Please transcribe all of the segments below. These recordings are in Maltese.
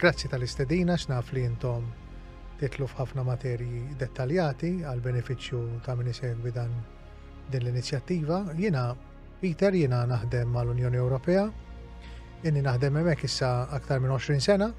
Grazzi tal-istedina għax naf li intom titlu f'ħafna materji dettaljati għal benefiċċju ta' min isegwi dan din l-inizjattiva. Jiena Peter jiena naħdem mal-Unjoni Ewropea. Inni naħdem hemmhekk issa aktar minn 20 sena.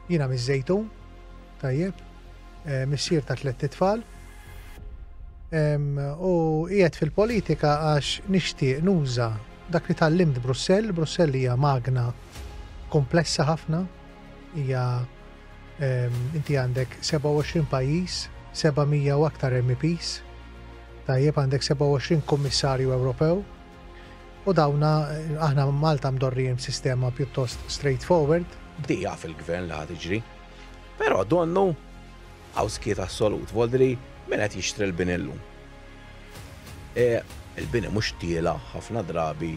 Jiena miż-Żejtun Tajjeb. Missier ta' tlett itfal. U qiegħed fil-politika għax nixtieq nuża dak li tallimt Brussell. Brussell hija magna komplessa ħafna. Hija inti għandek 27 pajjiż, 700 u aktar MEPs. Tajjeb għandek 27 Kummissarju Ewropew. U dawna aħna Malta mdorrijin sistema pjuttost straightforward. Bdieqa fil-gvern li ħad iġri. Però donnu hawn skiet assolut, voldri min qed jixtri l-bini llum? E, il-bini mhux tiela' ħafna drabi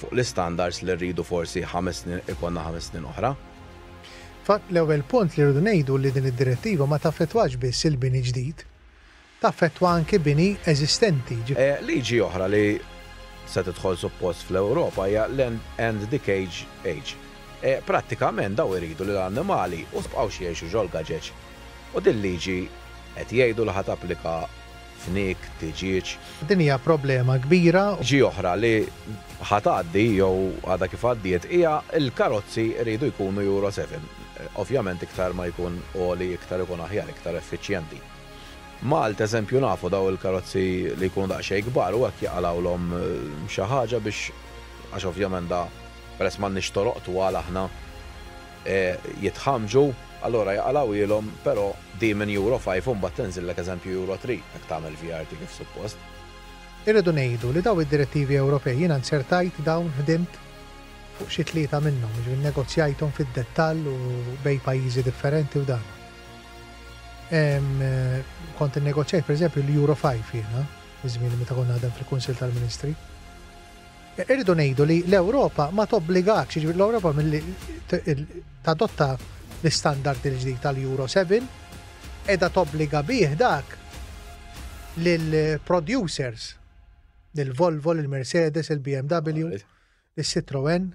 fuq l-istandards li rridu forsi ħames snin ikollna ħames snin oħra. Fatt l-ewwel punt li rridu ngħidu li din id-Direttiva ma taffettwax biss il-bini ġdid. taffettwa anki bini eżistenti. Liġi oħra li se tidħol suppost fl-Ewropa hija l-End and Decage Age. Prattikament dawn iridu li l-annimali u sbqgħux jgħixu ġol-gaġeġ u din liġi qed jgħidu li ħa tapplika fniek, tiġieġ. Din hija problema kbira. Liġi oħra li ħa tgħaddi jew għadha kif għaddiet hija l-karozzi iridu jkunu Euro 7. Ovvjament iktar ma jkun għoli iktar ikun aħjar, iktar effiċjenti. Malta eżempju nafu daw il-karozzi li jkunu daqsxejn kbar u hekk jaqalgħulhom xi ħaġa biex għax ovvjament da peress m'għandniex toroq twal aħna jitħammġu allura jaqalgħuhielhom però di minn Euro Five u mbagħad tinżillek eżempju Euro Three jekk tagħmel VRT kif suppost. Irridu ngħidu li daw id-direttivi Ewropej jiena nzertajt dawn ħdimt fuq xi tlieta minnhom, jiġifieri nnegozjajthom fid-dettall u bejn pajjiżi differenti u dan. Kont innegozjajt pereżempju l-Euro 5 jiena, iż-żmien meta kont naħdem fil-Kunsill tal-Ministri. Irridu ngħidu li l-Ewropa ma tobbligax, jiġifieri l-Ewropa milli tadotta l-istandard il-ġdid tal-Euro 7, qiegħda tobbliga bih dak lill-producers, lill-Volvo, lill-Mercedes, il-BMW. Is-Citroën